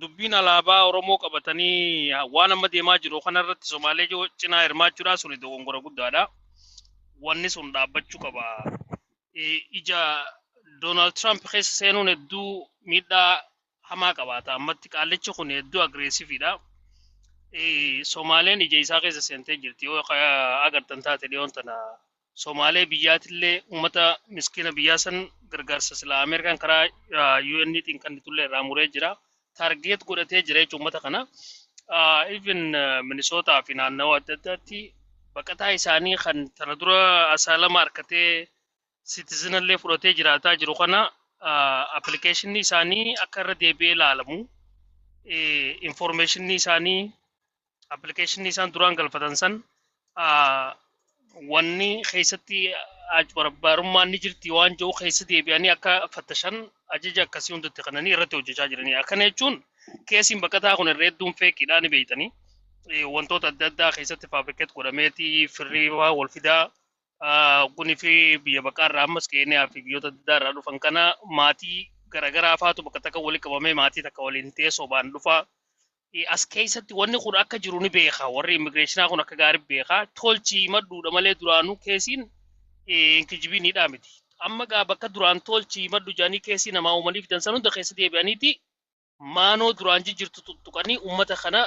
dubbiin alaabaa Oromoo qabatanii waan amma deemaa jiru kanarratti Somaalee jo- cinaa hirmaachuudhaa suni dogongora guddaadha. Wanni sun dhaabbachuu qaba. Eh, Ija Doonaald Tiraamp keessa seenuun hedduu miidhaa hamaa qabaata. Ammatti qaallichi kun hedduu agreesiividha. Eh, Somaaleen ija isaa keessa seentee jirti. Yoo ka- agartan taate dhiyoon tana Somaalee biyyaatillee uummata miskiina biyyaa san gargaarsa silaa Ameerikaan karaa UN tiin kannitullee irraa muree jira. Taargeet godhatee jira jechuun uummata kana. Even Minisootaa fi naannawaa adda addaatti baqataa isaanii kan tana dura asaalama harkatee sitizinallee fudhatee jiraataa jiru kana appilikeeshinii isaanii akka irra deebi'ee ilaalamu informeeshinii isaanii appilikeeshinii isaan duraan galfatan san ah, wanni keessatti ajbarbaarummaan ni jirti waan jiru keessa deebi'anii akka fattashan ajaja akkasii hundatti kananii irratti hojjechaa jiranii akkana jechuun keesiin baqataa kun irra hedduun feeqiidhaa ni beeytanii Eh, wantoota adda addaa keessatti faabrikeet godhameeti firrii waa wal fidaa ah, kunii fi biyya baqaa irraa ammas keeniyaa fi biyyoota adda addaa irraa dhufan kana maatii garaagaraa faatu bakka takka walitti qabamee maatii takka waliin teessoo baan dhufaa Eh, As keessatti wanni kun akka jiru ni beeka. Warri immigireeshinaa kun akka gaarii beeka. Tolchi himadhuudha malee duraanuu keesiin eh, hin kijibiin hidhaa miti. Amma gaa bakka duraan tolchi himadhu jedhanii keesii namaa uumanii fidan san hunda keessa deebi'aniiti maanoo duraan jijjirtu tuttuqanii uummata kana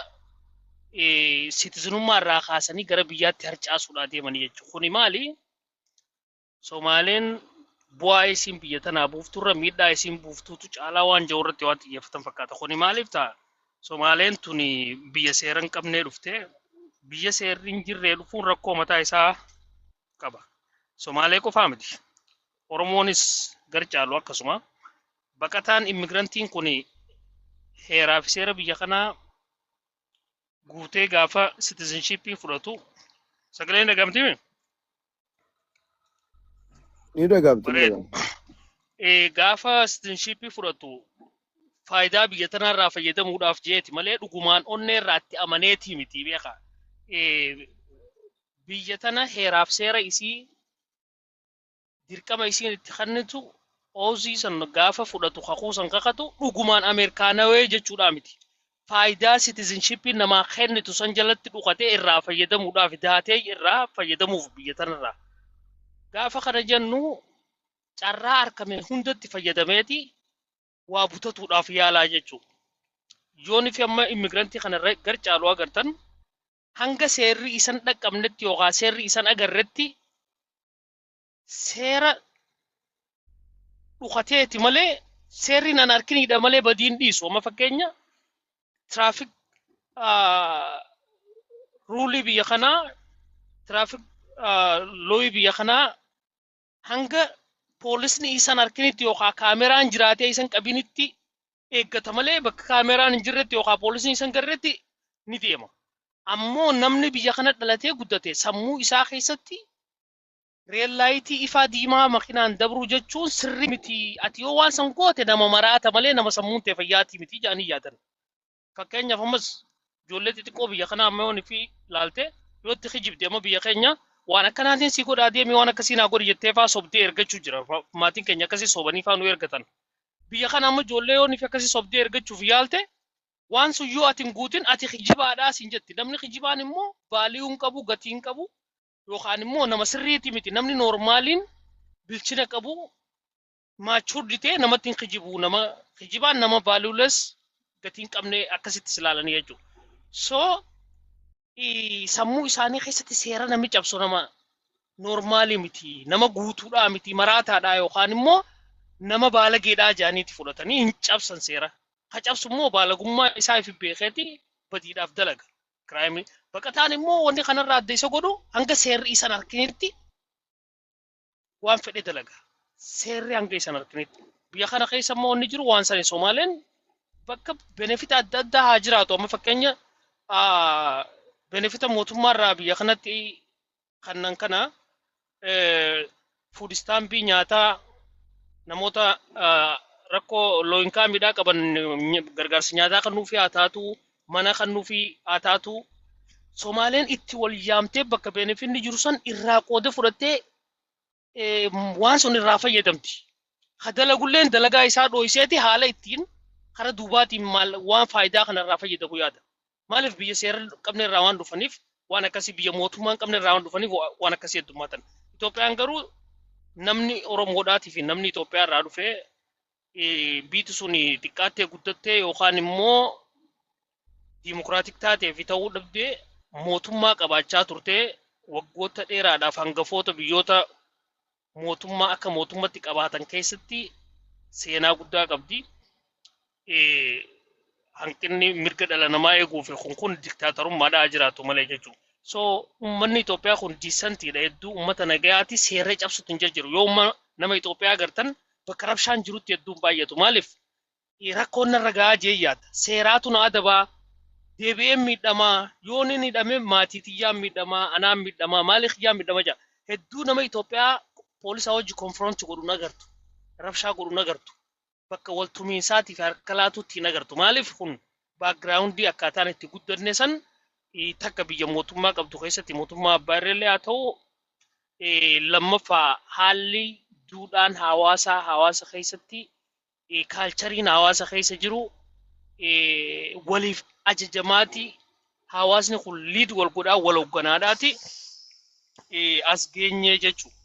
eh, sitizinummaa irraa kaasanii gara biyyaatti harcaasuudhaa deemanii jechuudha. Kuni maali? Somaaleen bu'aa isiin biyya tanaa buufturra miidhaa isiin buuftuutu caalaa waan jedhu irratti waan xiyyeeffatan fakkaata. Kuni maaliif ta'a? Somaaleen tuni biyya seera hin qabnee dhufte. Biyya seerri hin jirree dhufuun rakkoo mataa isaa qaba. Somaalee qofaa miti. Oromoonis gar caalu akkasuma. Baqataan immigirantiin kuni heeraa fi seera biyya kanaa guutee gaafa citizenshipii fudhatu sagaleen dhagamtimi? Ni dhagaabtu ni Bareeda. dhagaabtu. Eh, Gaafa sitinshiippii fudhatu faayidaa biyya tanarraa fayyadamuudhaaf jeeti malee dhugumaan onnee irraa itti amaneetii miti beeka. Eh, Biyya tana heeraaf seera isii dirqama isiin itti kennitu oozii san gaafa fudhatu kakuu san kakatu dhugumaan Ameerikaanawee jechuudhaa miti. faayidaa citizenshippiin namaa kennitu san jalatti dhukatee irraa fayyadamuudhaaf daatee irraa fayyadamuuf biyya tanarraa. Gaafa kana jennu carraa argame hundatti fayyadameeti waa butatuudhaaf yaalaa jechuudha. Yoon fi amma immigrantii kana irra gar caalu agartan hanga seerri isan dhaqqabnetti yookaan seerri isan agarretti seera dhukateeti malee seerri nan harkiniidha malee badiin dhiisu amma fakkeenya tiraafik ruulii biyya kanaa tiraafik looyii biyya kanaa hanga poolisni isan harkinitti yookaan kaameraan jiraatee isan qabinitti eeggata malee bakka kaameraan hin jirretti yookaan poolisni isan garretti ni deema. Ammoo namni biyya kana dhalatee guddate sammuu isaa keessatti Reel laayitii ifaa diimaa makinaan dabruu jechuun sirrii miti. Ati yoo waan san goote nama maraata malee nama sammuun ta'e fayyaatii miti jedhanii yaadan. Fakkeenyaaf ammas ijoollee xixiqqoo biyya kanaa amma yoon fi laalte yoo itti kijibde amma biyya keenya waan akkanaatiin si godhaa deemi waan akkasii naa godhi jettee faa sobdee ergachuu jira. Fa- Maatiin keenya akkasii sobanii faa nu ergatan. Biyya kana amma ijoollee yoon fi akkasii sobdee ergachuuf yaalte waan sun yoo ati hin guutin ati kijibaadhaa siin jetti. Namni kijibaan immoo vaaliyuu hin qabu gatii hin qabu. yookaan immoo nama sirriitii miti namni noormaaliin bilchina qabu maachuurdi ta'e namatti hin kijibu nama kijibaan nama vaaluules gatii hin qabne akkasitti silaalanii jechuudha. So i- sammuu isaanii keessatti seera namni cabsu nama noormaalii miti nama guutuudhaa miti maraataadhaa yookaan immoo nama baalageedhaa jaaniiti fudhatanii hin cabsan seera. Ka cabsu immoo baalagummaa isaa ifi beekeeti badiidhaaf dalaga. Kiraayimii. Baqataan immoo wanni kanarraa adda isa godhu hanga seerri isan harkinitti waan fedhe dalaga. Seerri hanga isan harkinitti. Biyya kana keessa immoo wanni jiru waan sani Somaaleen bakka benefita adda addaa haa jiraatu. Amma fakkeenya benefita mootummaarraa biyya kanatti kannan kana fuud istaambii nyaataa namoota rakkoo looyinkaa miidhaa qaban gargaarsa nyaataa kan nuufi haa taatu mana kan nuufi haa taatu Somaaleen itti wal yaamtee bakka beenefinni jiru san irraa qooda fudhattee waan sun irraa fayyadamti. Ka dalagulleen dalagaa isaa dhooyseeti haala ittiin kara duubaatiin maal waan faayidaa kana irraa fayyadamu yaada. Maaliif biyya seera qabne irraa waan dhufaniif waan akkasii biyya mootummaan qabne irraa waan dhufaniif waan akkasii heddummaatan. Itoophiyaan garuu namni Oromoodhaatii fi namni Itoophiyaa irraa dhufee eh, biiti sun xiqqaattee guddattee yookaan immoo diimokiraatik taatee fi ta'uu dhabdee mootummaa qabaachaa turtee waggoota dheeraadhaaf hangafoota biyyoota mootummaa akka mootummatti qabaatan keessatti seenaa guddaa qabdi. Eh, hanqinni mirga dhala namaa eeguu fi kun kun diktaatarummaadhaa jiraatu malee jechuudha. So uummanni Itoophiyaa kun diisantiidha hedduu uummata nagayaati seerree cabsutu hin jira jiru. Yoo uumma- nama Itoophiyaa agartan bakka rabshaan jirutti hedduun baay'atu. Maaliif rakkoon narra ga'aa jee yaada. Seeraatu na adabaa deebi'een miidhamaa yoo ni hidhame maatii tiyyaan miidhamaa anaan miidhamaa maalii kiyyaa miidhama jaa. Hedduu nama Itoophiyaa poolisaa wajji konfiroonti godhu nagartu. Rabshaa godhu nagartu. Bakka wal tumiinsaatii fi harka laatuutti hin agartu. Maaliif kun baakgiraawundii akkaataan itti guddanne san takka biyya mootummaa qabdu keessatti mootummaa abbaa irreellee haa ta'u Lammaffaa haalli duudhaan hawaasaa hawaasa keessatti kaalchariin hawaasa keessa jiru waliif ajajamaati. Hawaasni kun liid wal godhaa wal hogganaadhaati as geenye jechuudha.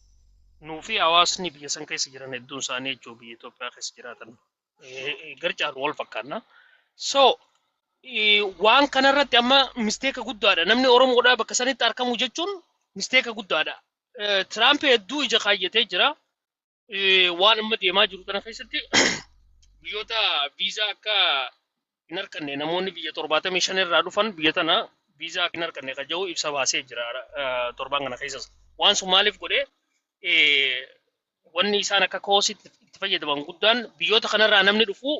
Nuufi hawaasni biyya san keessa jiran hedduun isaanii jechuudha biyya Itoophiyaa keessa jiraatan. eh, garcaaru wal fakkaanna. So eh, waan kanarratti amma misteeka guddaadha. Namni Oromoodhaa bakka sanitti argamu jechuun misteeka guddaadha. Eh, Tiraamp hedduu ija kaayyatee jira. Eh, Waan amma deemaa jiru kana keessatti biyyoota viizaa akka hin harkanne namoonni biyya 75 irraa dhufan biyya tana viizaa akka hin harkanne kan jedhu ibsa baasee jira eh, torban kana keessas. Waan sun maaliif godhe eh, wanni isaan akka koositti itti fayyadaman guddaan biyyoota kanarraa namni dhufu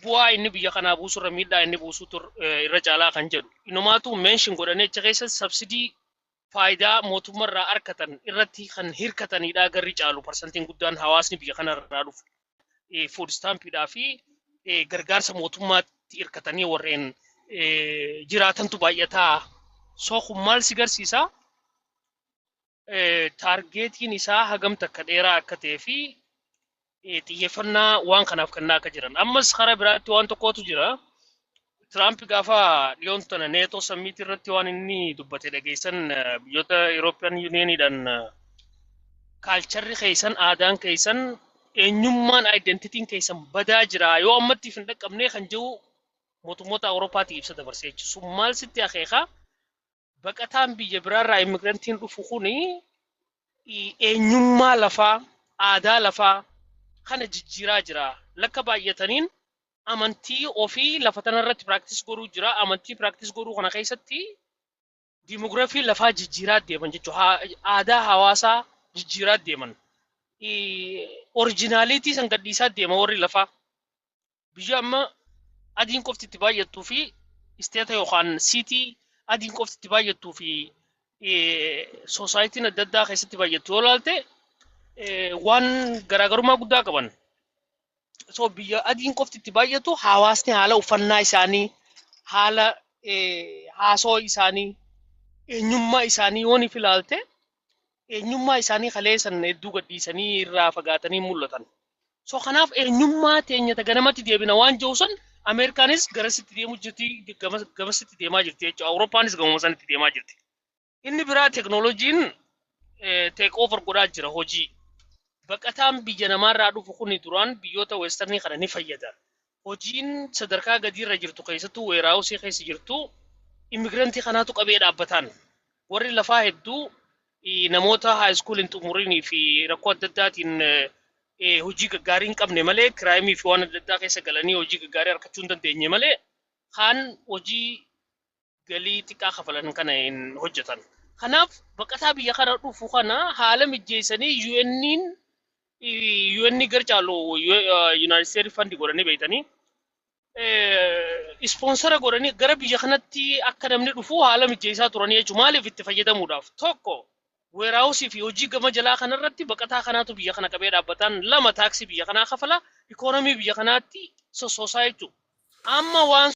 bu'aa inni biyya kanaa buusurra miidhaa inni buusutu eh, irra caalaa kan jedhu. Inumaatu meenshin godhanii achi keessa sabsidii faayidaa mootummaa irraa argatan irratti kan hirkatanidha garri caalu parsantiin guddaan hawaasni biyya kana irraa dhufu eh, food stampidhaa fi eh, gargaarsa mootummaatti hirkatanii warreen eh, jiraatantu baay'ataa soo kun maal si garsiisa Eh, taargeetiin isaa hagam takka dheeraa akka ta'ee fi eh, xiyyeeffannaa waan kanaaf kennaa akka jiran. Ammas karaa biraatti waan tokkotu jira. Tiraamp gaafa dhiyoon tana neetoo sammiitii irratti waan inni dubbate dhageessan eh, biyyoota Eurooppiyaan Yuuniyeeniidhaan eh, kaalcharri keessan aadaan keessan eenyummaan aayidentitiin keessan badaa jira yoo ammatti hin dhaqqabnee kan jiru mootummoota Awurooppaatii ibsa dabarsee jechuudha. Sun maal sitti akeeka? Baqataan biyya biraarraa immigrantiin dhufu kun eenyummaa lafaa, aadaa lafaa kana jijjiiraa jira. Lakka baay'ataniin amantii ofii lafa tanarratti practice godhuu jira. Amantii practice godhuu kana keessatti demography lafaa jijjiiraa deeman jechuudha. Aadaa hawaasaa jijjiiraa deeman. Originality san gadhiisaa deema warri lafaa. biyya amma adiin qofti itti baay'attuu fi isteeta yookaan siitii adiin qofti itti baay'attuu fi soosaayitiin adda addaa keessatti baay'attu yoo ilaalte waan garaagarummaa guddaa qaban. So biyya adiin qofti itti baay'atu hawaasni haala uffannaa isaanii, haala haasoo isaanii, eenyummaa isaanii yoo ni ilaalte eenyummaa isaanii kalee san hedduu gadhiisanii irraa fagaatanii mul'atan. So kanaaf eenyummaa teenya ta ganamatti deebina waan jiru san Ameerikaanis garasitti deemu jirti gamas- gamasitti deemaa jirti jechuudha. Awurooppaanis gamuma sanitti deemaa jirti. Inni biraa teknooloojiin teek over godhaa jira hojii. Baqataan biyya namaarraa dhufu kuni duraan biyyoota weestarnii kana ni fayyada. hojiin sadarkaa gadiirra jirtu keessattuu weeraawusii keessa jirtu immigirantii kanaatu qabee dhaabbataan warri lafaa hedduu eh, namoota haayiskuul hin xumurinii fi rakkoo adda addaatiin eh, eh, hojii gaggaarii hin qabne malee kiraayimii fi waan adda addaa keessa galanii hojii gaggaarii argachuu hin dandeenye malee kaan hojii galii xiqqaa kafalan kana hin hojjetan. Kanaaf baqataa biyya kana dhufu kana haala mijeessanii UN'n UN gar caalu Yunaayitid Isteetis fandi godhanii beektanii ispoonsara godhanii gara biyya kanatti akka namni dhufu haala mijeessaa turanii jechuudha. Maaliif itti fayyadamuudhaaf? Tokko weeraawusii fi hojii gama jalaa kanarratti baqataa kanaatu biyya kana qabee dhaabbataan lama taaksii biyya kanaa kafala ikoonomii biyya kanaatti sossoosaa jechuudha. Amma waan